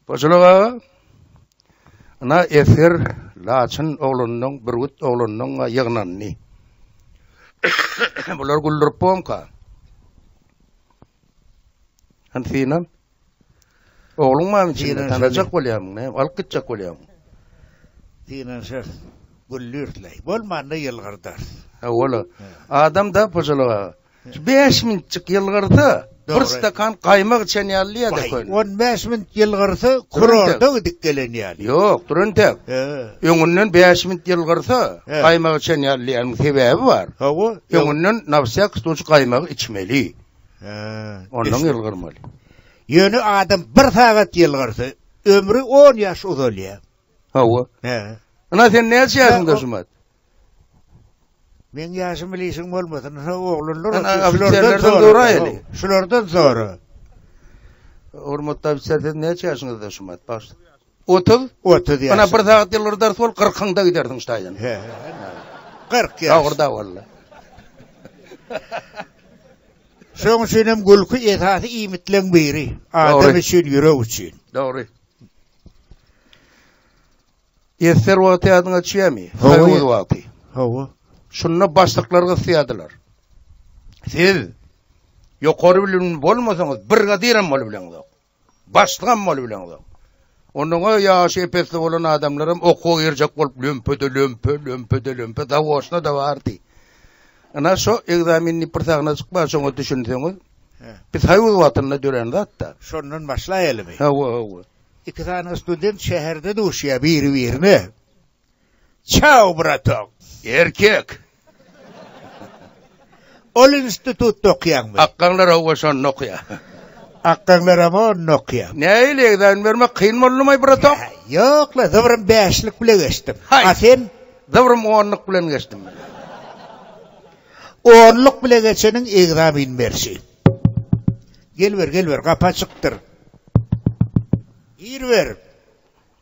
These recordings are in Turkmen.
Boşuluk aga. Ana esir Laçyn oglunyň, Bürgüt oglunyň ýygnandy. Bular güldürip boňka. Hansinam? Ogluň bamy içinde tanajak bolýarmyň näme alyp gitjek bolýarmyň. Synanyşarys. Gülüris leý. Bolmanda ýylgyrdars. Hawa-la. Adam da Pojalak aga. Şu bäş minutjyk ýylgyrsa, bir stakan gaýmak içen ýaly diýýä de köne. On bäş minut ýylgyrsa, kurorta gidip gelen ýaly. Ýok, dur entek. Öňünden bäş minut ýylgyrsa, gaýmak içen ýaly diýýäniň sebäbi bar. Hawa. Öňünden nawsýak stuç gaýmagy içmeli. Ondan ýylgyrmaly. Ýöne adam bir sagat ýylgyrsa, ömri on ýaş uzalýar. Hawa. Hä. Ina sen näçe ýaşyňda Jumat? Meň ýaşym bilişiň bolmasyn, ha oglanlar ofiserlerden soraýaly. Şulardan sora. Hormatly ofiser, siz näçe ýaşyňyzda Jumat? Baş. Otuz? Otuz ýaşyňda. Ynha, bir sagat ýylgyrdar sol, gyrkyňda gidersiň şaýyna. He, ynha, gyrk ýaş. Dogry-da walla. Şoň üçin hem gülki esasy iýmitleň biri. Adam üçin, ýürek üçin. Dogry. Ester wagty ýadyňa düşýärmi? Soýuz wagty. Hawa. Şunda başlyklar gysýardylar. Siz ýokary bilimli bolmasaňyz, brigadir hem bolup bileňizok. Başlygam bolup bileňzok. Onnoňa ýaşy ep-esli bolan adamlaram okuwa girjek bolup lömpede lömpe, lömpede lömpe zawoçna-da bardy. Ynha şo ekzamen diýip bir sahna çykýar, şoňa düşünseňiz. Biz soýuz wagtynda dörän zat-da. Şondan başlaýalymy? Hawa, hawa. Iki sany student şäherde duşýar biri-birine. Çau, bratok! Erkek! Ol institutda okýaňmy? Akgaňlar howwa şonda okýa. Akgaňlaram onda okýa. Nähili, ekzamen bermek kyn boldumy, bratok? Ýok-la, zybrym bäşlik bile geçdim. Haý! A sen? Zybrym onluk bilen geçdim men. Onluk bile geçeniň ekzamen berşi. Gel ber, gel ber, gapy açykdyr. Gir ber!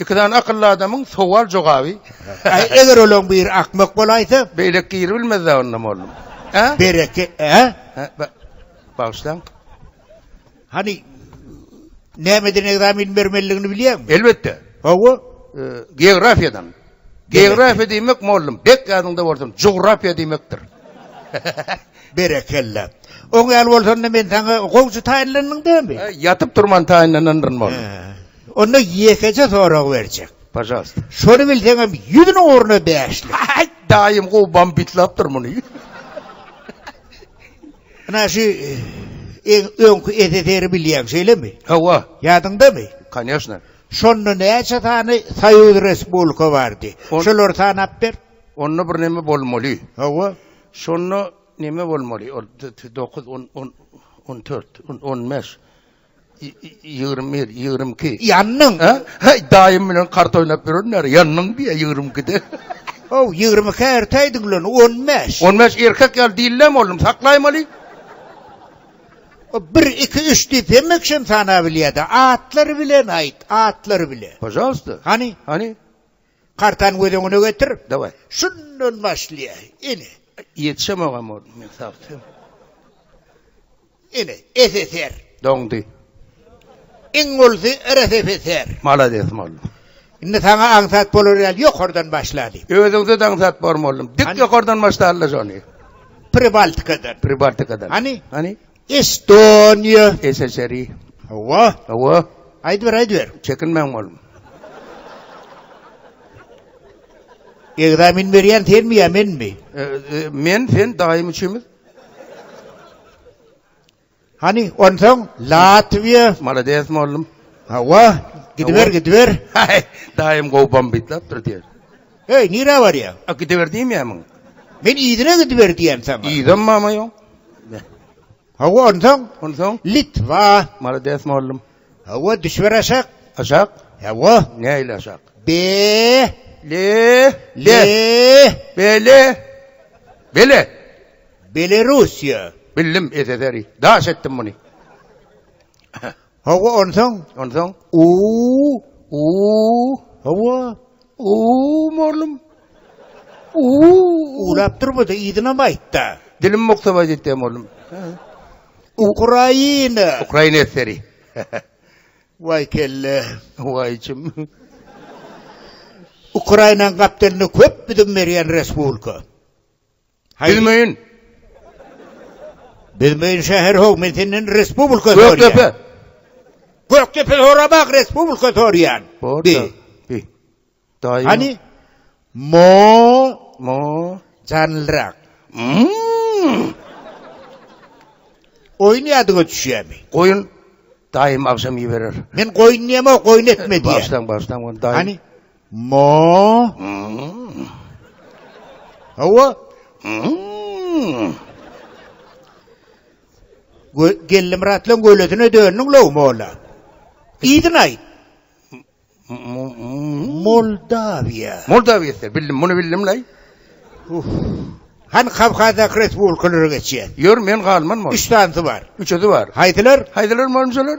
Iki sany akylly adamyň sowal jogaby. Aý eger olaň biri akmak bolaýsa. Beýleki giribilmezda onda mollum. Hä? Bereke hä? Hä ba bagyşlaň. Hany nämeden ekzamen bermelidigini bilýäňmi? Elbetde. Hawa. Geografiýadan. Geografiýa diýmek mollum, bek ýadyňda bolsun, jugrafiýa diýmekdir. Berekella. Oň ýaly bolsanda men saňa gowçy taýynlandyň dämi? Ýatyp turman taýynlanandyr mollum. Onda ýekeje sorag berjek. Pažalsta. Şony bilseňem ýüzüniň ugruna bäşlik. Haý, daýym gowy bambitlapdyr muny. Ynha şu iň öňki SSR-i bilýäň, şeýlemi? Hawa. Ýadyňdamy? Koneşna. Şonda näçe sany soýuz respublika bardy? Şolary sanap ber. Onda bir neme bolmaly. Hawa. Şonda neme bolmaly? Ol dokuz, on, on, on dört, on, on bäş. Ýigrimi bir, ýigrimi iki. Ýandyň. Heý, daýym bilen kart oýnap ýörenler, ýandyň diýýär ýigrimi ikide. How, ýigrimi ikä ertäýdiň bilen, on bäş. On bäş erkek ýaly dillem boldum, saklaýmaly. Bir, iki, üç diýip hemme kişem sanabilýä-dä. Atlary bilen aýt, atlary bilen. Pažalsta. Hany? Hany? Kartany göz öňüne getir. Daway. Şundan başlaýaý. Ine. Ýetişemogam boldum men sagty. Ine, SSR. Doňdy. Iň ulysy RSFSR. Malades boldum. Indi saňa aňsat bolar ýaly ýokardan başlaly. Özüňde-de aňsat bor boldum. Dik ýokardan başlala şony. Pribaltikadan. Pribaltikadan. Hany? Hany? Estoniýa. SSRI. Hawa. Hawa. Aýdyber, aýdyber. Çekinmäň oglum. Ekzamen berýän senmi ýa menmi? E, e, men, sen daýym üçimiz. Hani onsoň Latwiýa. Malades mollum. Hawa, gidiber, gidiber. Daýym gowy bombit lapdyr diýer. Heý, nirä barýaň? A, gidiber diýmeýärmiň? Men yzyna gidiber diýýän saňa. Yzam mama ýoň. Hawa, onsoň? Onsoň? Litwa. Malades, mugallym. Hawa, düşüber aşak. Aşak? Hawa. Nähili aşak? Be. Le. Le. Bele. Bele. Belerussiýa. Bildim, SSR-i. Daş etdim muny. Hawa, onsoň? Onsoň? Uuu, uuu. Hawa, uuu, mollum. Uuu, uwlap durma-da, yzynam aýt-da. Dilim mukdabaý gitdi-ä, mollum. Ukraina. Ukraina eseri. Waý kelle. Waý içim. Ukrainanyň gapdalynda köp bidim berýän respublika. Bilmeýin. Bilmeýin şäher how men senden respublika sorýan. Gökdepe. Gökdepe sorabak respublika sorýan. Bi. Bi. Daýy. Hani? Mo. Mo. Janlyrak. Mmm. Oýun ýadyňa düşýärmi? Goýun daýym agşam iberer. Men goýun diýemok, goýun etme diýýär. Başdan başdan goýun daýym. Hani? Ma. Hawa. Gö Gellimyratlaň gölesine döndüň low molla. Yzyny aýt. Moldawiýa. Moldawiýa sen bildim muny bildim lay. Hany Kawkazdaky respublikalara geçýär. Ýör men galman mol. Üç sanysy bar. Üçüsi bar. Haýsylar? Haýsylar molmuşalar?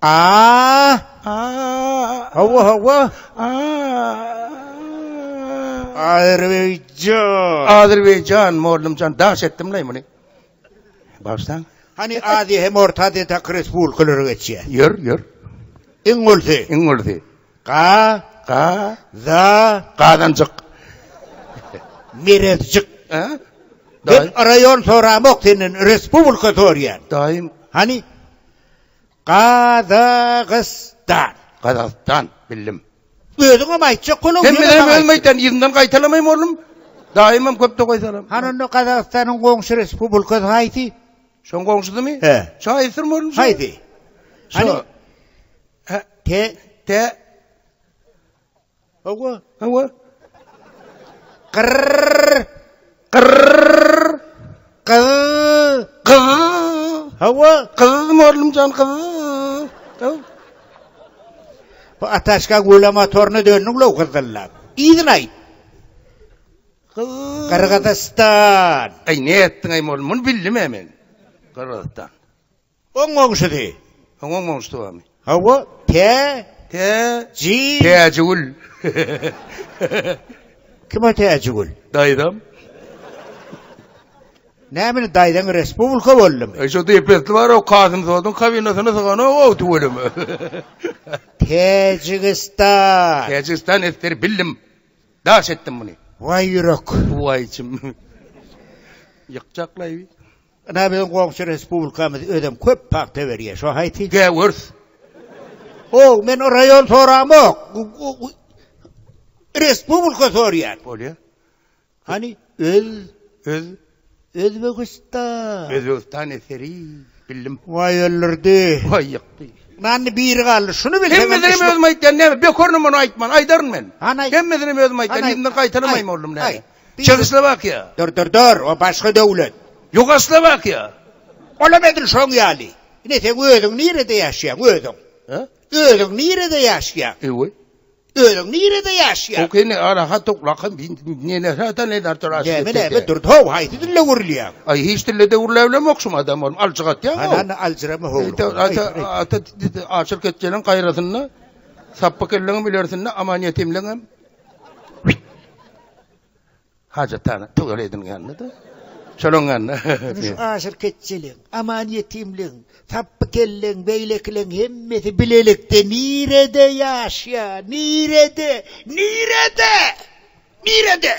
A! A! Hawa, hawa. A! Azerbaýjan. Azerbaýjan, mollumjan, daş etdim leý muny. Bagşlaň. Hany Aziýa hem Orta Aziýa taky respublikalara geçýä. Ýör, ýör. Iň ulysy. Iň ulysy. Ga. Ga. Za. Gazanjyk. Merezjik. Hä? Men raýon soramok senden, respublika sorýan. Daýym. Hany? Gazagystan. Gazagystan, bildim. Özüňem aýtjak boluň. Sen bilen hem özüm aýtýan yzyndan gaýtalamaým oglum. Daýymam köp tokaý salam. Hany onda Gazagystanyň goňşy respublikasy haýsy? Şoň goňşusymy? He. Şo aýtsyrmy oglum? Haýsy? Şo. Te. Te. Hawa, hawa. Gyrr! Gyrr! Gyz! Gyz! Hawa, gyz murlum jan gyz. Hawa. Bu ataşka göle motoruna döndü ulo gyzdyllap. Yzyny aýt. Gyz. Gyrgyzystan. Aý ne etdiň aý murlum, muny bildim-ä men. Gyrgyzystan. Oň goňşusy. Oň oň goňşusy barmy? Hawa, tä, Tä, ji. Täjigül. Kim o Täjigül? Daýzam. Näme indi daýzaň respublika boldumy? E, şo depesli bar, o Kasym Soduň kabinasyny syganok, ow tüweleme. Täjigistan. Täjigistan esger bildim. Daş etdim muny. Waý ýürek. Waý içim. Ýykjaklaýby. Ynha biziň goňşy respublikamyz özem köp pagta berýär. Şo haýsy? Gäwürs. Hoow, men raýon soramok. Respublika sorýan. Bolýar. Hany öz öz Özbegistan. Özbegistan eseri bildim. Waý öldürdi. Waý ýykdy. Nanny biri galdy. Şuny bilseň. Hemmesini özüm aýtýan näme? Bekorny muny aýtman, aýdaryn men. Hany. Hemmesini özüm aýtýan. Ýerinden gaýtalamaým oldum näme? Çehoslowakiýa. Dur, dur, dur, o başga döwlet. Ýugoslowakiýa. Olam edil şoň ýaly. Ine, seň özüň nirede ýaşaýaň, özüň? Hä? Özüň nirede ýaşaýaň? Eý-we. Özüň nirede ýaşaýaň? Hok, indi araha toklakam, neler hata, neler töre aşyp gitdi. Näme, näme, dur-da, how, haýsy dilde gürlýäň? Aý, hiç dilde de gürläbilemok şum adam bolup, aljyk atýaň, how. Hany, aljyrama, how. Ýa, ata, ata, aşyr ketjeniň gaýrasynda, sapbykyllygyň bilersinde, aman ýetimligiňem, Hajatana tüwel edin geldi de. Şonuň ýanyna. Şu aşyr keçjeliň, aman ýetimliň, sapby kelleň, beýlekileň hemmesi bilelikde nirede ýaşýar? Nirede? Nirede? Nirede?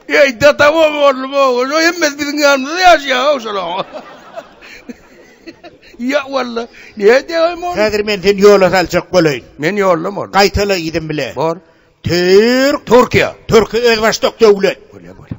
Eý, dadam-ow, oglum-ow, ol hemmesi biziň ýanymyzda ýaşaýar-ow şolaryň. Ýa, walla, nädeýäýem ony? Häzir men seni ýola saljak bolaýyn. Men ýolda mol. Gaýtala yzym bile. Bor. Tür. Türkiýe. Türki özbaşdak döwlet. Bolýa, bolýa.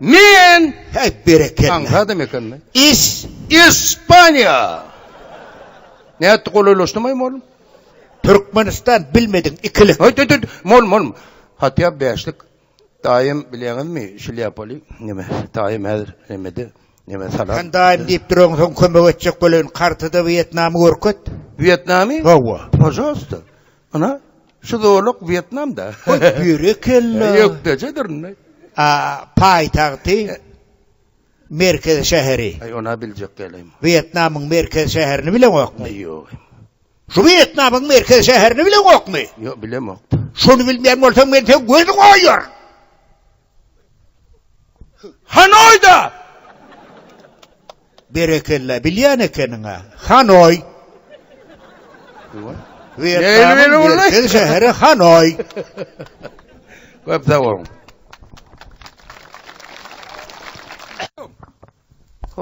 Men. Heý, berekella. Haňra adam ekeni. Is. Ispaniýa. Nätdi, golaýlaşdymaý, mol? Türkmenistan, bilmediň, ikilik. Haý, tüt, tüt, mol, mol. Hatýa bäşlik. Daýym, bilýäňizmi, şlýapaly, neme, daýym häzir nemede, neme, salam. Sen daýym diýip duruň, soň kömek etjek bolaýyn, kartada Wýetnamy görket. Wýetnamy? Hawa. Pažalsta. Ana, şu zolak Wýetnamda. Goý, berekella. Ýökdejedir indi. A, paýtagty, merkezi şäheri. Aý, ony-a biljek dälem. Wýetnamyň merkezi şäherini bileňokmy? Aý, ýogy. Şu Wýetnamyň merkezi şäherini bileňokmy? Ýok, bilemok-da. Şony bilmeýän bolsaň, men seň gözüňi oýaryn! Hanoýda! Berekella, bilýän ekeniň-ä. Hanoý! Wýetnamyň merkez şäheri Hanoý. Köp sag boluň.